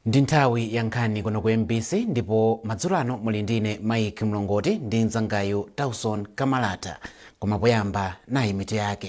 ndi nthawi ya nkhani kuno ku mbc ndipo madzulo ano muli ndine mike mlongoti ndi mzangayu tauson kamalata koma poyamba nayi mitu yake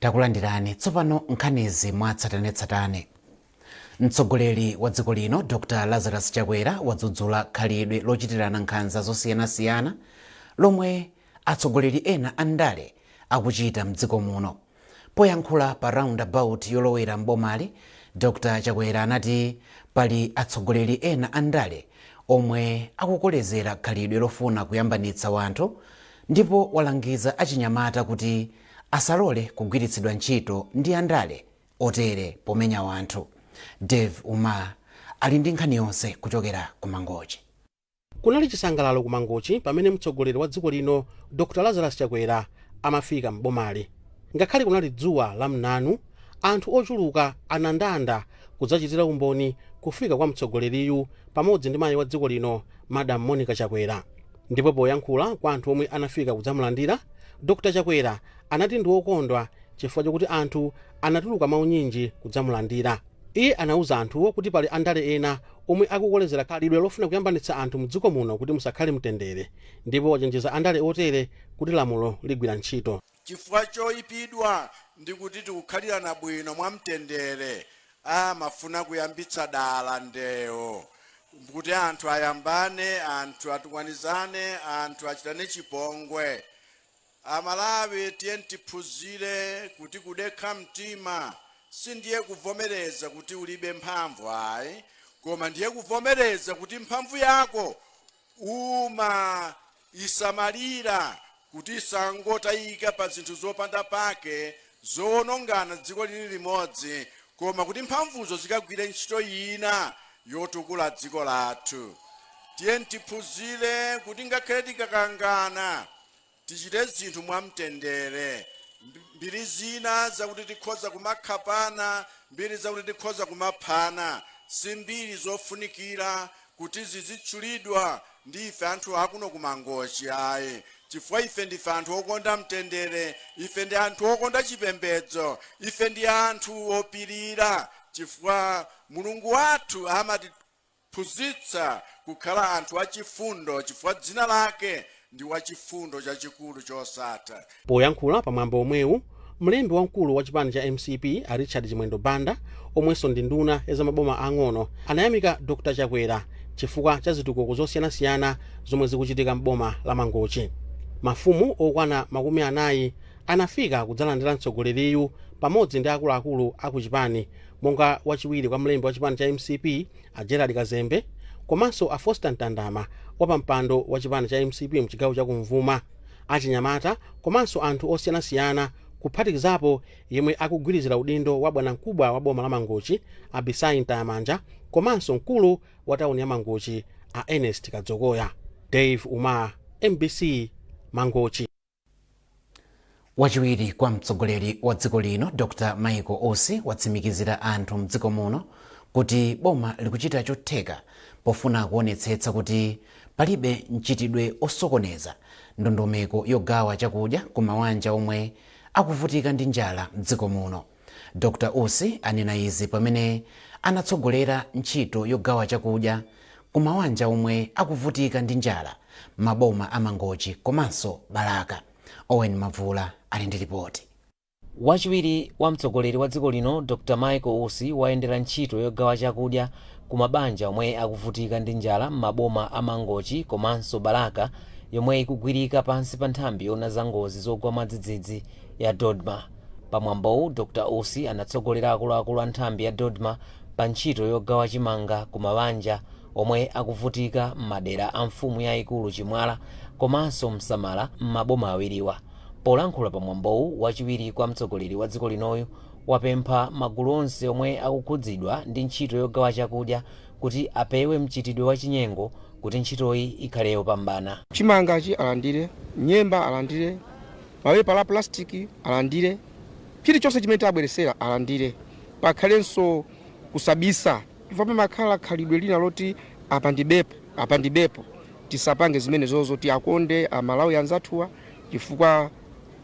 takulandirani tsopano nkhanizi mwatsatanetsatane mtsogoleri wa dziko lino dr lazarus chakwera wadzudzula khalidwe lochitirana nkhanza zosiyanasiyana lomwe atsogoleri ena andale akuchita mdziko muno Poyankhula pa Roundabout yolowera m'bomali, Dr Chakwera anati pali atsogoleri ena a ndale omwe akukolezera khalidwe lofuna kuyambanitsa wanthu ndipo walangiza achinyamata kuti asalole kugwiritsidwa ntchito ndi andale otere pomenya wanthu. Dave Umar ali ndi nkhani yonse kuchokera ku Mangochi. Kunali chisangalalo ku Mangochi pamene mtsogoleri wa dziko lino Dr Lazarus Chakwera amafika m'bomali. Ngakhale kunali dzuwa la mnanu, anthu ochuluka anandanda kudzachitira umboni kufika kwa mtsogoleriyu pamodzi ndi mayi wa dziko lino Madam Monica Chakwera. Ndipo poyankhula kwa anthu omwe anafika kudzamulandira, Dr Chakwera anati ndiwokondwa chifukwa chokuti anthu anatuluka mwaunyinji kudzamulandira. Iye anauza anthuwo kuti pali andale ena omwe akukolezera khalidwe lofuna kuyambanitsa anthu mdziko muno kuti musakhale mtendere ndipo wachenjeza andale otere kuti lamulo ligwira ntchito. Chifukwa choyipidwa ndi kuti tikukhalirana bwino mwa mtendere, amafuna kuyambitsa dala ndewo kuti anthu ayambane, anthu atukwanizane, anthu achitane chipongwe. Amalawi tiyeni tiphunzire kuti kudekha mtima sindiye kuvomereza kuti ulibe mphamvu ayi koma ndiye kuvomereza kuti mphamvu yako umaisamalira kuti isangotayika pa zinthu zopanda pake zowonongana dziko lili limodzi koma kuti mphamvuzo zikagwire ntchito ina yotukula dziko lathu. Tiyeni tiphunzire kuti ngakhale tikakangana tichite zinthu mwamtendere. Mbiri zina zakuti tikhoza kumakhapana, mbiri zakuti tikhoza kumaphana, si mbiri zofunikira kuti zizitchulidwa ndi ife anthu akuno ku Mangochi ayi chifukwa ife ndife anthu okonda mtendere, ife ndi anthu okonda chipembedzo, ife ndi anthu opirira chifukwa Mulungu wathu amati Phunzitsa kukhala anthu achifundo chifukwa dzina lake ndi Wachifundo Chachikulu Chosatha. Poyankhula pa mwambo omwewu, mlembi wamkulu wa chipani cha mcp a Richard Chimwendo Banda omwenso ndi nduna ya za maboma aang'ono anayamika Dr Chakwera chifukwa cha zitukuko zosiyanasiyana zomwe zikuchitika m'boma la Mangochi. Mafumu okwana makumi anayi anafika kudzalandira mtsogoleriyu pamodzi ndi akuluakulu a ku chipani monga wachiwiri kwa mlembi wa chipani cha mcp a Gerald Kazembe komanso a Foster Ntandama wapampando wa chipani cha mcp mchigawo cha kumvuma, achinyamata komanso anthu osiyanasiyana kuphatikizapo yemwe akugwirizira udindo wa bwanamkubwa wa boma la Mangochi a Bisayi Mtayamanja komanso mkulu wa tauni ya Mangochi a Ernest Kadzokoya. Dave Umar, mbc, Mangochi. wachiwiri kwa mtsogoleri wa dziko lino dr michael usi watsimikizira anthu mdziko muno kuti boma likuchita chotheka pofuna kuonetsetsa kuti palibe mchitidwe osokoneza ndondomeko yogawa chakudya ku mawanja omwe akuvutika ndi njala mdziko muno Dr Usi anena izi pamene anatsogolera ntchito yogawa chakudya ku mawanja omwe akuvutika ndi njala m'maboma a Mangochi komanso Balaka. Owen Mavula ali ndi lipoti. Wachiwiri wa mtsogoleri wa dziko lino Dr Michael Usi wayendera ntchito yogawa chakudya ku mabanja omwe akuvutika ndi njala m'maboma a Mangochi komanso Balaka yomwe ikugwirika pansi pa nthambi yoona za ngozi zogwa mwadzidzidzi ya DoDMA. Pa mwambowu, Dr Usi anatsogolera akuluakulu a nthambi ya Dodma pa ntchito yogawa chimanga ku mawanja omwe akuvutika m'madera a mfumu yaikulu Chimwala komanso Msamala m'maboma awiriwa. Polankhula pa mwambowu, wachiwiri kwa mtsogoleri wa dziko linoyu wapempha magulu onse omwe akukhudzidwa ndi ntchito yogawa chakudya kuti apewe mchitidwe wa chinyengo kuti ntchitoyi ikhale yopambana. Chimangachi alandire, nyemba alandire. Mapepala a pulasitiki alandire. Chilichonse chimene tawabweretsera alandire. Pakhalenso kusabisa chifukwa pamakhala khalidwe lina loti apa ndibepo, apa ndibepo. Tisapange zimenezozo. Tiwakonde Amalawi anzathuwa chifukwa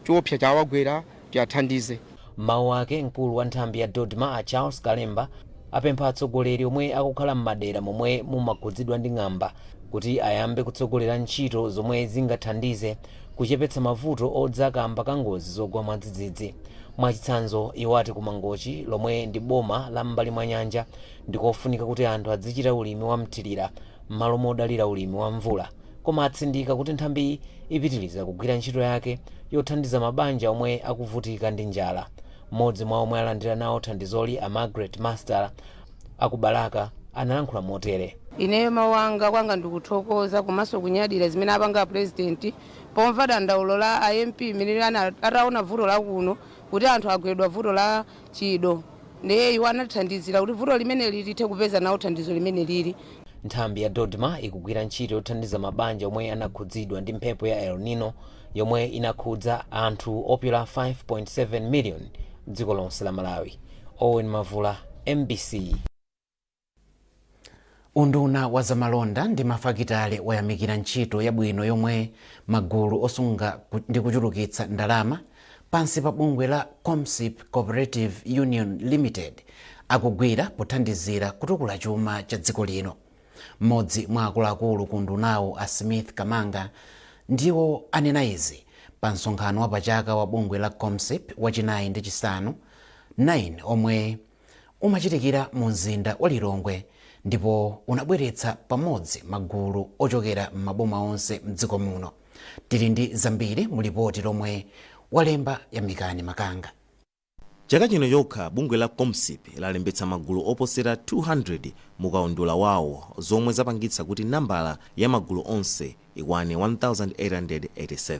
choopsa chawagwera. Tiwathandize. M'mawu ake, mkulu wa nthambi ya Dodma a Charles Kalemba apempha atsogoleri omwe akukhala m'madera momwe mumakhudzidwa ndi ng'amba kuti ayambe kutsogolera ntchito zomwe zingathandize kuchepetsa mavuto odza kamba ka ngozi zogwa mwadzidzidzi. Mwachitsanzo, iwo ati ku Mangochi lomwe ndi boma la m'mbali mwa nyanja ndikofunika kuti anthu adzichita ulimi wa mthilira m'malo modalira ulimi wa mvula. Koma atsindika kuti nthambiyi ipitiliza kugwira ntchito yake yothandiza mabanja omwe akuvutika ndi njala. M'modzi mwa omwe alandira nawo thandizoli a Margret Master aku Balaka analankhula motere. Ineyo mawu wanga kwanga ndikuthokoza komanso kunyadira zimene apanga a President pomva dandaulo la a MP imene ataona vuto lakuno kuti anthu agwedwa vuto la chido. Ndiye iwo anathandizira kuti vuto limene lili lithe kupeza nawo thandizo limene liri. Nthambi ya DoDMA ikugwira ntchito yothandiza mabanja omwe anakhudzidwa ndi mphepo ya El Nino yomwe inakhudza anthu opyola 5.7 miliyoni dziko lonse la Malawi. Owen Mavula, mbc. Unduna wa zamalonda ndi mafakitale wayamikira ntchito yabwino yomwe magulu osunga ndi kuchulukitsa ndalama pansi pa bungwe la Comsip Cooperative Union Limited akugwira pothandizira kutukula chuma cha dziko lino. Mmodzi mwa akuluakulu ku undunawo a Smith Kamanga ndiwo anena izi pa msonkhano wapachaka wa bungwe la Comsip wachinayi ndi chisanu 9 omwe umachitikira mu mzinda wa Lilongwe ndipo unabweretsa pamodzi magulu ochokera m'maboma onse m'dziko muno. Tili ndi zambiri mu lipoti lomwe walemba Yamikani Makanga. Chaka chino chokha, bungwe la Comsip lalembetsa magulu oposera 200 mu kaundula wawo zomwe zapangitsa kuti nambala ya magulu onse ikwane 1887,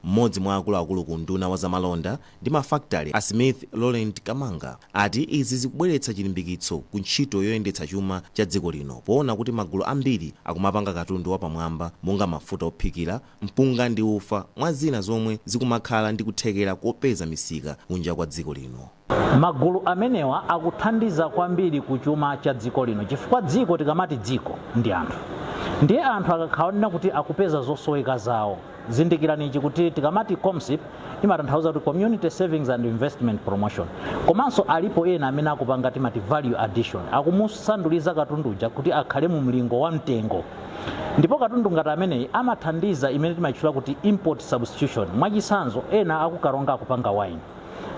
mmodzi mwa akuluakulu ku unduna wa zamalonda ndi mafakitale a Smith Laurent Kamanga ati izi zikubweretsa chilimbikitso ku ntchito yoyendetsa chuma cha dziko lino poona kuti magulu ambiri akumapanga katundu wapamwamba monga mafuta ophikira, mpunga ndi ufa mwa zina zomwe zikumakhala ndi kuthekera kopeza misika kunja kwa dziko lino. Magulu amenewa akuthandiza kwambiri ku chuma cha dziko lino chifukwa dziko tikamati dziko ndi anthu ndiye anthu akakhala onena kuti akupeza zosoweka zawo zindikirani ichi kuti tikamati Comsip imatanthauza kuti Community Savings and Investment Promotion komanso alipo ena amene akupanga timati value addition akumusanduliza katundu uja kuti akhale mu mlingo wa mtengo ndipo katundu ngati ameneyi amathandiza imene timaitchula kuti import substitution mwachitsanzo ena aku Karonga akupanga wine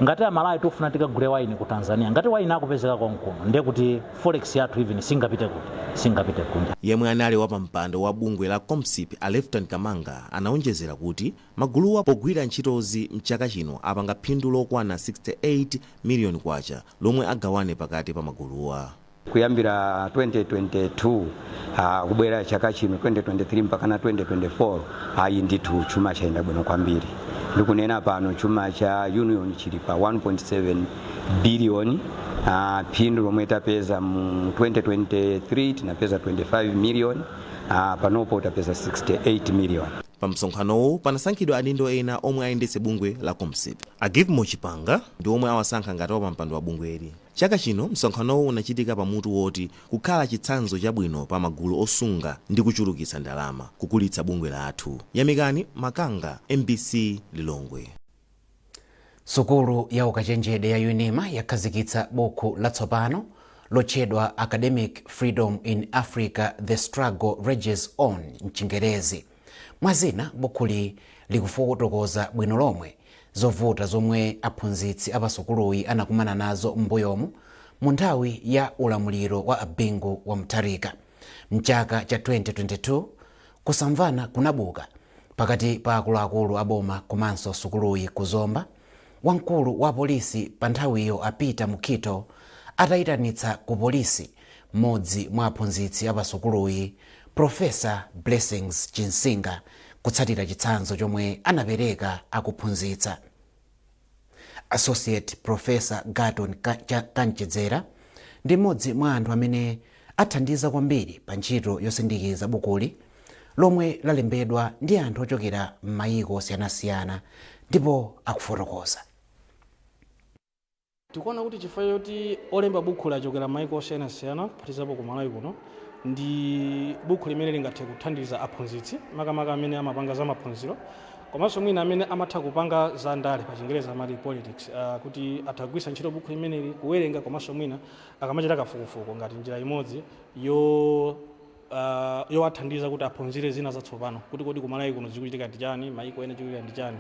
ngati amalawi tukufuna tikagule wayini ku tanzania ngati wayini akupezeka konkuno ndiye kuti forex yathu even singapite kunja Yemwe anali wapampando wa bungwe la Comsip a Lefton Kamanga anaonjezera kuti maguluwa pogwira ntchitozi mchaka chino apanga phindu lokwana K68 million lomwe agawane pakati pa maguluwa. kuyambira 2022 ah, kubwera chaka chino 2023 mpaka na 2024 ayi ndithu chuma chayenda bwino kwambiri ndikunena pano chuma cha union chili pa 1.7 biliyoni ah, phindu lomwe tapeza mu 2023 tinapeza 25 miliyoni ah, panopo tapeza 68 miliyoni pa msonkhanowu panasankhidwa adindo ena omwe ayendetse bungwe la comsip a givemore chipanga ndi omwe awasankha ngati wapampando wa bungweli Chaka chino msonkhanowu unachitika pa mutu woti Kukhala Chitsanzo Chabwino pa Magulu Osunga ndi Kuchulukitsa Ndalama, Kukulitsa Bungwe Lathu. Yamikani Makanga, mbc Lilongwe. Sukulu ya ukachenjede ya Unima yakhazikitsa bukhu latsopano lotchedwa Academic Freedom in Africa, The Struggle Rages On m'Chingerezi. Mwa zina, bukhuli likufotokoza bwino lomwe zovuta zomwe aphunzitsi a pa sukuluyi anakumana nazo m'mbuyomu mu nthawi ya ulamuliro wa a Bingu wa Mutharika. M'chaka cha 2022, kusamvana kunabuka pakati pa akuluakulu a boma komanso sukuluyi ku Zomba. wamkulu wa apolisi panthawiyo a Peter Mukhito ataitanitsa ku polisi mmodzi mwa aphunzitsi a pasukuluyi, Professor Blessings Chinsinga kutsatira chitsanzo chomwe anapereka akuphunzitsa. Associate Professor Garton Kamchedzera ndi mmodzi mwa anthu amene Athandiza kwambiri pa ntchito yosindikiza bukuli, lomwe lalembedwa ndi anthu ochokera m'mayiko osiyanasiyana, ndipo akufotokoza. Tikuona kuti chifukwa choti olemba bukhuli achokera m'mayiko osiyanasiyana, kuphatikizapo ku Malawi kuno, ndi bukhu limene lingathe kuthandiza aphunzitsi, makamaka amene amapanga za maphunziro, komanso mwina amene amatha kupanga za ndale, pachingerezi amati politics, kuti atha kugwiritsa ntchito bukhu limeneli, kuwerenga komanso mwina akamachita kafukufuku ngati njira imodzi yo Uh, yowathandiza kuti aphunzire zina zatsopano kuti kodi kumalawi kuno zikuchitika ndi chani maiko ena chikuchitika ndi chani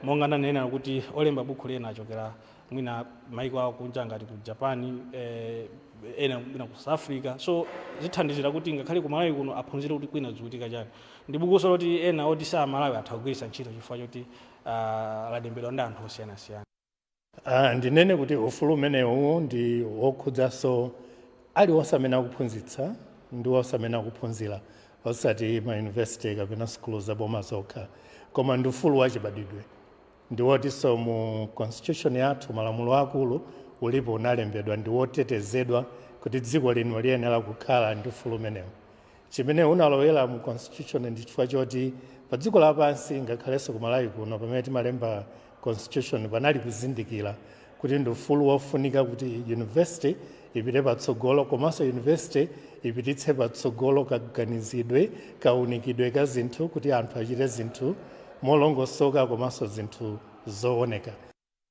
monga ndanena kuti olemba bukhuli ena achokera mwina maiko akunja ngati ku japan eh, ena mwina ku south africa so zithandizira kuti ngakhale kumalawi kuno aphunzire kuti kwina zikuchitika chani ndi bukuso loti ena oti si amalawi atha kugwiritsa ntchito chifukwa choti uh, lalembedwa ndi anthu osiyanasiyana Uh, ndinene kuti ufulu umenewu ndi wokhudzanso aliwonse amene akuphunzitsa ndi wonse amene akuphunzira osati mayunivesite kapena sukulu zaboma zokha koma ndi ufulu wachibadidwe ndi wotinso mu constitution yathu malamulo akulu ulipo unalembedwa ndi wotetezedwa kuti dziko lino liyenera kukhala ndi ufulu umenewu chimene unalowera mu constitution ndi chifukwa choti pa dziko lapansi ngakhalenso ku malawi kuno pamene timalemba constitution panali kuzindikira kuti ndi ufulu wofunika kuti university ipite patsogolo komanso university ipititse patsogolo kaganizidwe kaunikidwe ka zinthu kuti anthu achite zinthu molongosoka komanso zinthu zooneka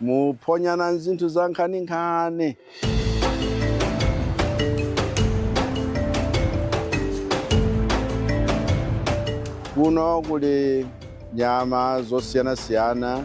Muphonyana zinthu zankhaninkhani. Kuno kuli nyama zosiyanasiyana.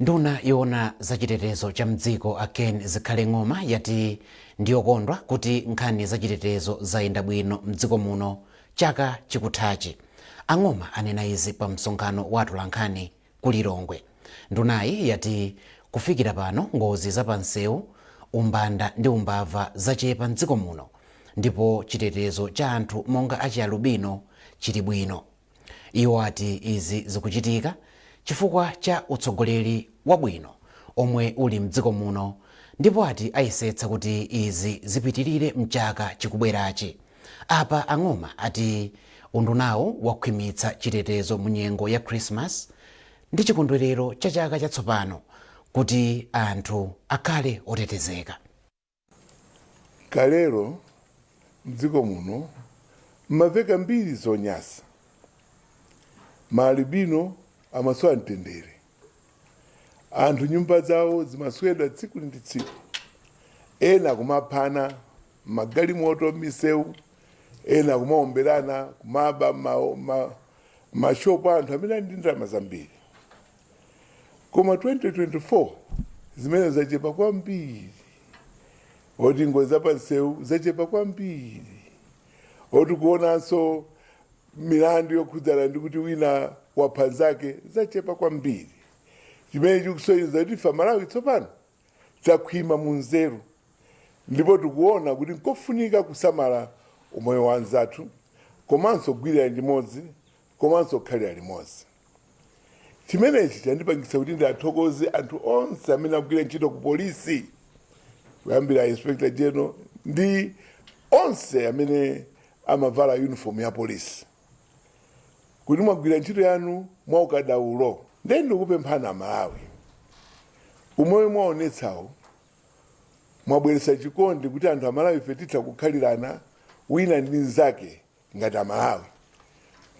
Nduna yoona za chitetezo cha m'dziko a Ken Zikhale Ng'oma yati ndiyokondwa kuti nkhani za chitetezo zayenda bwino m'dziko muno chaka chikuthachi. A Ng'oma anena izi pa msonkhano wa atolankhani ku Lilongwe. Ndunayi yati kufikira pano ngozi za pa nsewu, umbanda ndi umbava zachepa m'dziko muno ndipo chitetezo cha anthu monga achialubino chili bwino. Iwo ati izi zikuchitika chifukwa cha utsogoleri wabwino omwe uli mdziko muno ndipo ati ayesetsa kuti izi zipitilire mchaka chikubwerachi. Apa a Ng'oma ati undunawu wakhwimitsa chitetezo mu nyengo ya Christmas ndi chikondwelero cha chaka chatsopano kuti anthu akhale otetezeka. Kalelo, m'dziko muno mumamveka mbiri zonyasa. Ma alubino amasowa mtendere. Anthu nyumba zawo zimaswedwa tsiku ndi tsiku. Ena kumaphana m'magalimoto, m'misewu, ena kumaomberana, kumaba m'ma shop a anthu amene ali ndi ndalama zambiri. koma 2024 zimene zachepa kwambiri oti ngozi zapansewu zachepa kwambiri oti kuonanso milandu yokhudzana ndi kuti wina wapha nzake zachepa kwambiri chimene chikusonyeza kuti ife amalawi tsopano takhwima mu nzeru ndipo tikuona kuti nkofunika kusamala umoyo wa anzathu komanso kugwirira limodzi komanso kukhalira limodzi Chimenechi chandipangitsa kuti ndiathokoze anthu onse amene akugwira ntchito ku polisi kuyambira Inspector General ndi onse amene amavala uniform ya polisi kuti mwagwira ntchito yanu mwa ukadaulo. Ndiye ndikupemphani Amalawi, umo mwaonetsamo mwabweretsa chikondi kuti anthu Amalawife titha kukhalirana wina ndi mnzake ngati amalawi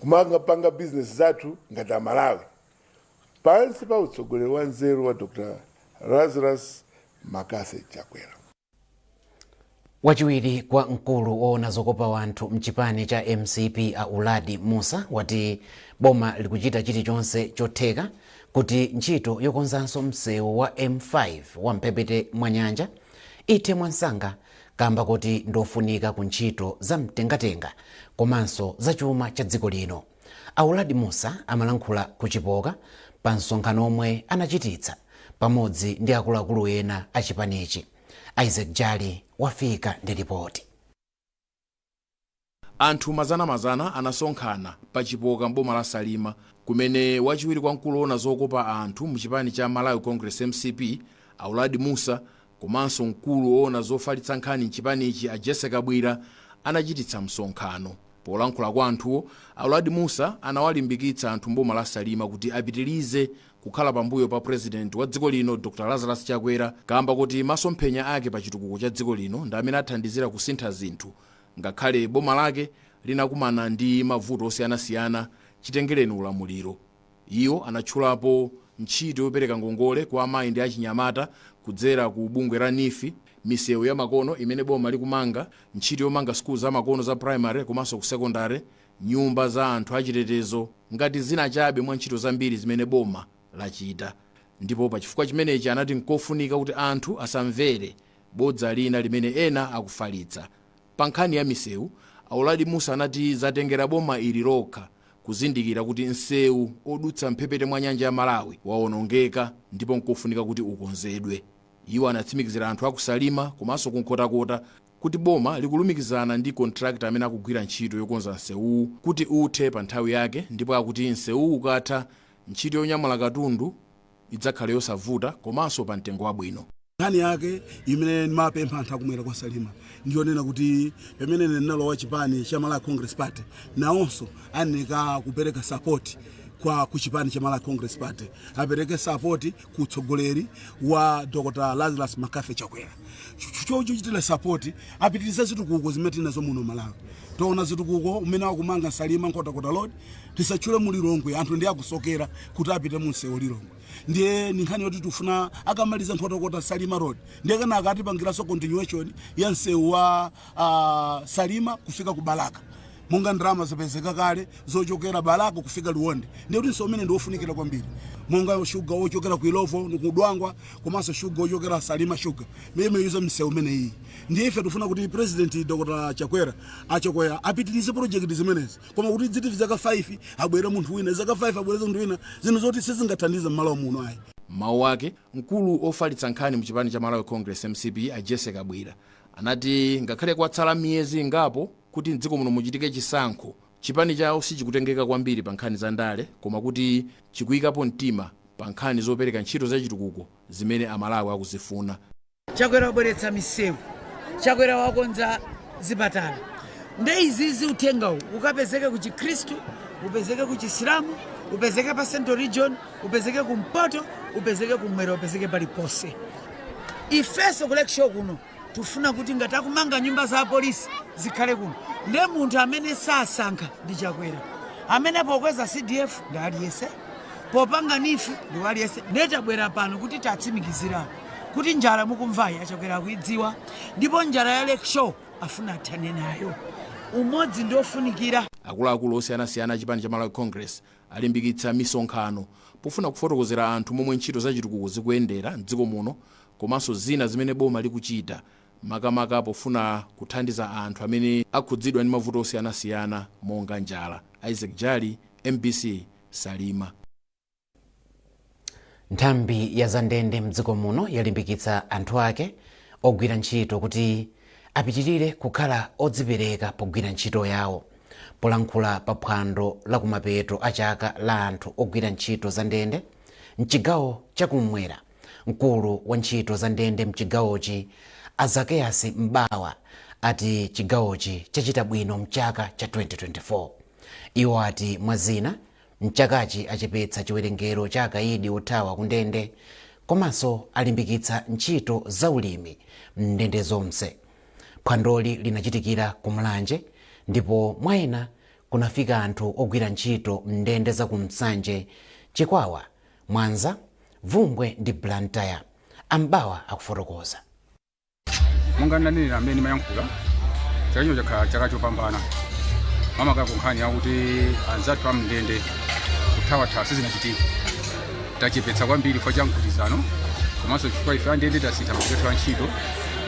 kumapanga bizinesi zathu ngati amalawi pansi pa utsogoleri wa nzeru wa dr lazarus makase chakwera wachiwiri kwa mkulu woona zokopa wanthu mchipani cha mcp a uladi musa wati boma likuchita chilichonse chotheka kuti ntchito yokonzanso msewu wa m5 wa mphepete mwa nyanja ithe mwansanga kamba kuti ndiofunika ku ntchito za mtengatenga komanso za chuma cha dziko lino. A Uladi Mussa amalankhula ku Chipoka pa msonkhano omwe anachititsa pamodzi ndi akuluakulu ena a chipanichi. Isaac Jali wafika ndi lipoti. Anthu mazanamazana anasonkhana pa Chipoka m'boma la Salima kumene wachiwiri kwa mkulu owona zokopa anthu mu chipani cha Malawi Congress, mcp, a Uladi Mussa komanso mkulu owona zofalitsa nkhani mchipanichi a Jesse Kabwira anachititsa msonkhano. Polankhula kwa anthuwo, a Uladi Mussa anawalimbikitsa anthu m'boma la Salima kuti apitilize kukhala pambuyo pa President wa dziko lino Dr Lazarus Chakwera kaamba kuti maso mphenya ake pa chitukuko cha dziko lino ndi amene athandizira kusintha zinthu ngakhale boma lake linakumana ndi mavuto osiyana siyana chitengereni ulamuliro. Iwo anatchulapo ntchito yopereka ngongole kwa amayi ndi achinyamata kudzera ku bungwe la NEEF, misewu ya makono imene boma likumanga, ntchito yomanga sukulu za makono za primary komanso ku secondary nyumba za anthu achitetezo ngati zina chabe mwa ntchito zambiri zimene boma lachita ndipo pachifukwa chimenechi anati n'kofunika kuti anthu asamvere bodza lina limene ena akufalitsa. Pa nkhani ya misewu, a Uladi Mussa anati zatengera boma ili lokha kuzindikira kuti msewu odutsa m'mphepete mwa nyanja ya Malawi waonongeka ndipo n'kofunika kuti ukonzedwe. Iwo anatsimikizira anthu a ku Salima komanso ku Nkhotakota kuti boma likulumikizana ndi contractor amene akugwira ntchito yokonza nsewuwu kuti uthe pa nthawi yake ndipo akuti nsewuwu ukatha, ntchito yonyamula katundu idzakhale yosavuta komanso pa mtengo wabwino. Nkhani yake imene ndimapempha anthu akumwera kwa Salima ndi yonena kuti pamene ine ndinalowa chipani cha Malawi Congress Party, nawonso ayeneka kupereka support kwa ku chipani cha Malawi Congress Party, apereke support ku utsogoleri wa Dr. Lazarus McCarthy Chakwera chochitira sapoti apitirize zitukuko zimene tili nazo muno Malawi taona zitukuko umene akumanga Salima Nkhotakota Road tisatchule mu Lilongwe anthu ndi akusokera kuti apite mu msewu Lilongwe ndiye ni nkhani yoti tifuna akamaliza Nkhotakota Salima Road ndiye kana akatipangiranso continuation ya msewu wa ah, Salima kufika ku Balaka Monga ndalama zapezeka kale zochokera Balaka kufika Liwonde ndiye kuti msewu umene ndi wofunikira kwambiri monga shuga wochokera ku Illovo, ku Dwangwa komanso shuga wochokera Salima Sugar ndiye amayuza msewu umenewu. Ndiye ife tikufuna kuti Purezidenti Dr Chakwera, a Chakwera apitirize projekiti zimenezi koma kuti idziti zaka 5 abwere munthu wina, zaka 5 abwere munthu wina, zinthu zoti sizingathandize m'Malawi muno ayi. M'mawu ake, mkulu ofalitsa nkhani mu chipani cha Malawi Congress, mcp, a Jessy Kabwila anati ngakhale kwatsala miyezi ingapo kuti m'dziko muno muchitike chisankho, chipani chawo sichikutengeka kwambiri pa nkhani za ndale koma kuti chikuyikapo mtima pa nkhani zopereka ntchito za chitukuko zimene a Malawi akuzifuna. Chakwera wabweretsa misewu, Chakwera wakonza zipatala nde izizi uthengawu ukapezeke ku Chikhristu, upezeke ku Chisilamu, upezeke pa Central Region, upezeke ku Mpoto, upezeke ku Mwera, upezeke paliponse. Ifeso ku Lakeshore kuno Tufuna kuti ngati akumanga nyumba za apolisi zikhale kuno nde munthu amene sasankha ndi Chakwera amene pokweza CDF ndi aliyese popanga NEEF ndi aliyese nde tabwera pano kudzatsimikizira kuti njala mukumvayi a Chakwera akuidziwa ndipo njala ya Lakeshore afuna athane nayo umodzi ndi ofunikira. Akuluakulu osiyanasiyana a chipani cha Malawi Congress alimbikitsa misonkhano pofuna kufotokozera anthu momwe ntchito za chitukuko zikuyendera m'dziko muno komanso zina zimene boma likuchita makamaka pofuna kuthandiza anthu amene akhudzidwa ndi mavuto osiyanasiyana monga njala. Isaac Jali, mbc, Salima. Nthambi ya zandende mdziko muno yalimbikitsa anthu ake ogwira ntchito kuti apitirire kukhala odzipereka pogwira ntchito yawo. Polankhula pa phwando la kumapeto a chaka la anthu ogwira ntchito zandende mchigawo chakumwera, Mkulu wa ntchito za ndende mchigawochi a Zaccheus M'bawa ati chigawochi chachita bwino mchaka cha 2024. Iwo ati mwa zina, mchakachi achepetsa chiwerengero cha akayidi othawa ku ndende komanso alimbikitsa ntchito za ulimi m'ndende zonse. Phwandoli linachitikira ku Mulanje ndipo mwa ena kunafika anthu ogwira ntchito m'ndende za ku Nsanje, Chikwawa Mwanza, Bvumbwe ndi Blantyre. A M'bawa akufotokoza. monga ndanenera mmene ndimayankhula chaka chino chakhala chaka chopambana makamaka ku nkhani yakuti anzathu amndende kuthawathawa sizinachitike tachepetsa kwambiri chifukwa cha mgwirizano komanso chifukwa ife andende tasintha magwiridwe athu a ntchito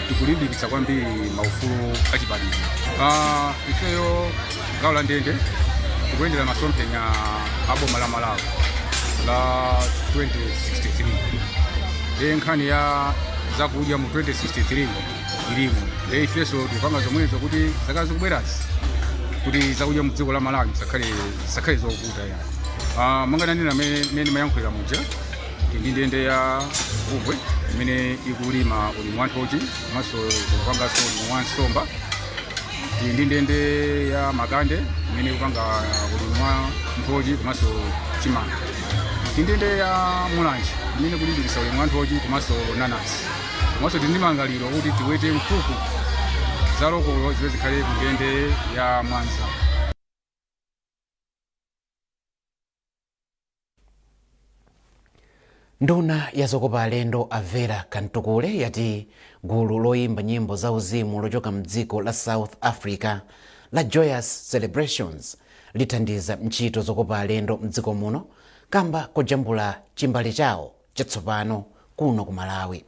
tikulimbikitsa kwambiri maufulu achibadwidwe Ah, ifeyo gawo la ndende tikuyendera masomphenya a boma la malawi la 2063 nde nkhani ya zakudya mu 2063 ilimo e ifenso tikupanga zomwezo kuti zaka zikubwerazi kuti zakudya mu dziko la malawi zisakhale zisakhale zovuta ayi uh, monga nanena mmene ndimayankhulira muja tili ndi ndende ya bvumbwe imene ikulima ulimi wa nthochi komanso ikupanganso ulimi wa nsomba Tili ndi ndende ya makande imene ikupanga ulimi wa nthochi komanso chimanga. Tili ndi ndende ya mulanje imene ikulimbikitsa ulimi wa nthochi komanso nanasi. Komanso tili ndi malingaliro kuti tiwete nkhuku za lokolo zimene zikhale ku ndende ya Mwanza. nduna ya zokopa alendo a vera kamtukule yati gulu loyimba nyimbo za uzimu lochoka mdziko la south africa la joyous celebrations lithandiza ntchito zokopa alendo mdziko muno kamba kojambula chimbale chawo chatsopano kuno ku Malawi.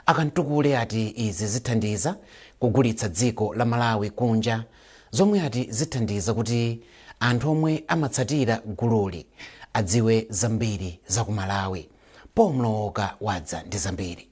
A Kamtukule ati izi zithandiza kugulitsa dziko la Malawi kunja zomwe ati zithandiza kuti anthu omwe amatsatira gululi adziwe zambiri za ku Malawi. Paul Mlowoka wadza ndi zambiri.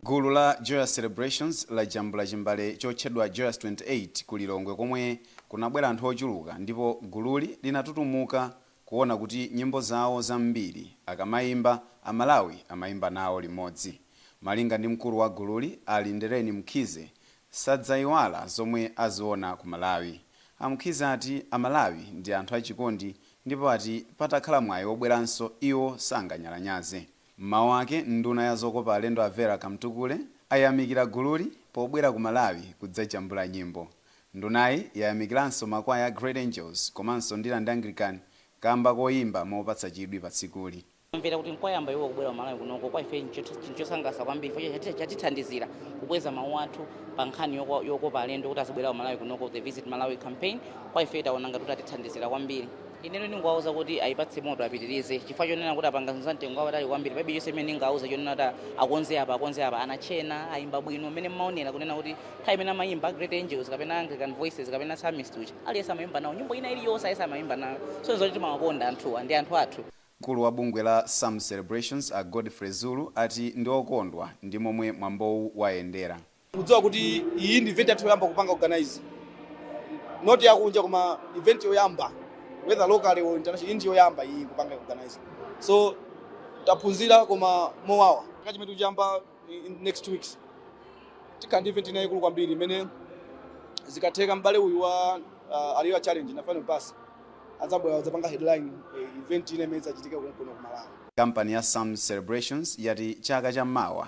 Gulu la Joyous Celebrations lajambula chimbale chotchedwa Joyous 28 ku Lilongwe komwe kunabwera anthu ochuluka ndipo gululi linatutumuka kuona kuti nyimbo zawo zambiri akamaimba, Amalawi amaimba nawo limodzi. Malinga ndi mkulu wa gululi, a Lindelani Mkhize, sadzaiwala zomwe aziona ku Malawi. A Mkhize ati Amalawi ndi anthu achikondi ndipo ati patakhala mwayi wobweranso, iwo sanganyalanyaze. M'mawu ake, nduna ya zokopa alendo a Vera Kamtukule ayamikira gululi pobwera ku Malawi kudzajambula nyimbo. Ndunayi yayamikiranso makwaya a Great Angels komanso Ndirande Anglican kamba koyimba mopatsa chidwi pa tsikuli. Kumvera kuti nkwayamba iwowo kubwera ku Malawi kunoko, kwa ife n'chinthu chosangalatsa kwambiri chifukwa chatithandizira kukweza mawu athu pa nkhani yokopa alendo kuti azibwera ku Malawi kunoko, The Visit Malawi Campaign, kwa ife taona ngati kuti atithandizira kwambiri. ineyo ndingowauza kuti ayipatse moto apitirize chifukwa chonena kuti apanga zinthu za mtengo wapatali kwambiri palibe chonse chimene ndingawauze chonena kuti akonze apa akonze apa anatchena ayimba bwino mmene mmaonera kunena kuti nthawi imene amayimba great angels kapena anglican voices kapena psalmist uja aliyense amayimba nawo nyimbo ina iliyonse aliyense amayimba nawo so n'zoti timawakonda anthuwa ndi anthu athu Mkulu wa bungwe la Psalm Celebrations a Godfrey Zulu ati ndi okondwa ndi momwe mwambowu wayendera. Mukudziwa kuti iyi ndi event yathu yoyamba kupanga organize not yakunja koma event yoyamba whether locally or international ndi yoyamba iyi kupanga organize so taphunzira koma mowawa chaka chimene tikuchiyamba in next two weeks tikhala ndi event ina yaikulu kwambiri imene zikatheka m'bale uyu wa uh, aliyo challenge na final pass adzabwera kudzapanga headline eh, event ina imene idzachitika kuno ku Malawi kampani ya sam celebrations yati chaka cha mawa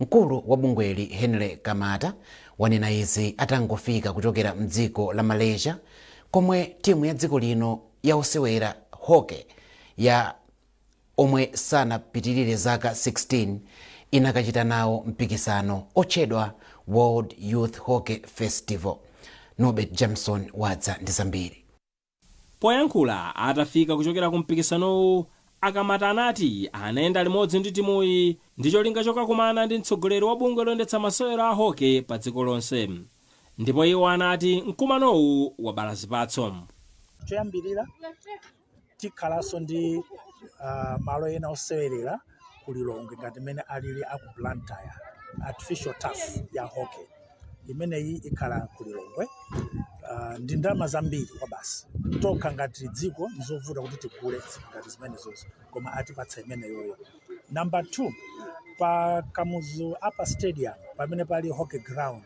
Mkulu wa bungweli Henry Kamata wanena izi atangofika kuchokera mdziko la Malaysia komwe timu ya dziko lino ya osewera Hockey ya omwe sanapitirire zaka 16 inakachita nawo mpikisano otchedwa World Youth Hockey Festival. Norbert Jameson wadza ndi zambiri. Poyankhula atafika kuchokera ku mpikisanowu, a Kamata anati anayenda limodzi ndi timuyi ndi cholinga chokakumana ndi mtsogoleri wa bungwe loyendetsa masewero a Hockey pa dziko lonse ndipo iwo anati mkumanowu wabala zipatso. Choyambirira tikhalanso ndi malo ena osewerera. ku lilongwe ngati mmene alili a ku blantyre artificial turf ya hockey imeneyi ikhala ku lilongwe uh, ndi ndalama zambiri kwabasi tokha ngati dziko ndizovuta kuti tigule zinthu ngati zimenezozi koma atipatsa imeneyoyo number two pa kamuzu upper stadium pamene pali hockey ground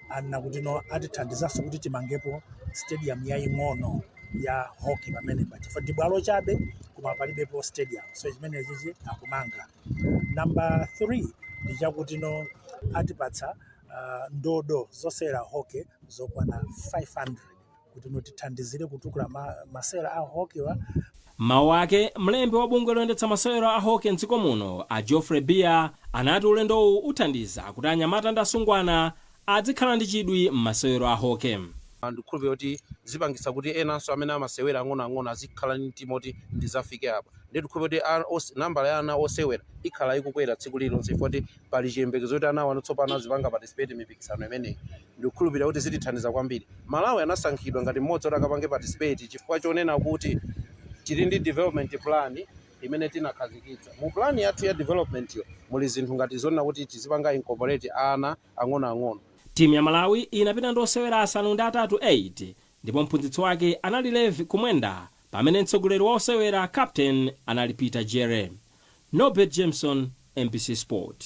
anena kuti no atithandizanso kuti timangepo stadium yaying'ono ya hockey pamenepa chifukwa ndi bwalo chabe koma palibepo stadium so chimenechichi akumanga namba 3 ndi chakuti no atipatsa uh, ndodo zosewerera hockey zokwana 500 kuti no tithandizire kutukula ma, masewero a hockey wa M'mawu ake, mlembi wa bungwe loyendetsa masewero a hockey m'dziko muno, a Geoffrey Biya, anati ulendowu uthandiza kuti anyamata ndi asungwana adzikhala ndi chidwi m'masewero a hockey. ndikukhulupirira kuti zipangitsa kuti enanso amene amasewera ang'onoang'ono azikhala ndi mtima oti ndizafike apa ndiye ndikukhulupirira kuti ana- os- nambala ya ana osewera ikhala ikukwera tsiku lililonse chifukwa kuti pali chiyembekezo kuti anawa tsopano azipanga participate mipikisano imeneyi Ndikukhulupirira kuti zitithandiza kwambiri. Malawi anasankhidwa ngati mmodzi woti akapange participate chifukwa chonena kuti tili ndi development plan imene tinakhazikitsa. Mu plan yathu ya development yo muli zinthu ngati zonena kuti tizipanga incorporate ana ang'onoang'ono. Timu ya Malawi inapita ndi osewera asanu ndi atatu 8 ndipo mphunzitsi wake anali Levi Kumwenda pamene mtsogoleri wa osewera, captain, anali Peter Jere. Norbert Jameson, mbc Sport.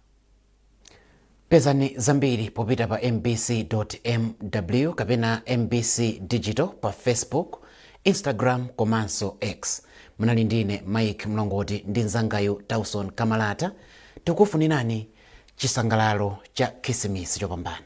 pezani zambiri popita pa mbc mw kapena mbc digital pa facebook instagram komanso x munali ndine mike mlongoti ndi mzangayu tauson kamalata tikufunirani chisangalalo cha khisimisi chopambana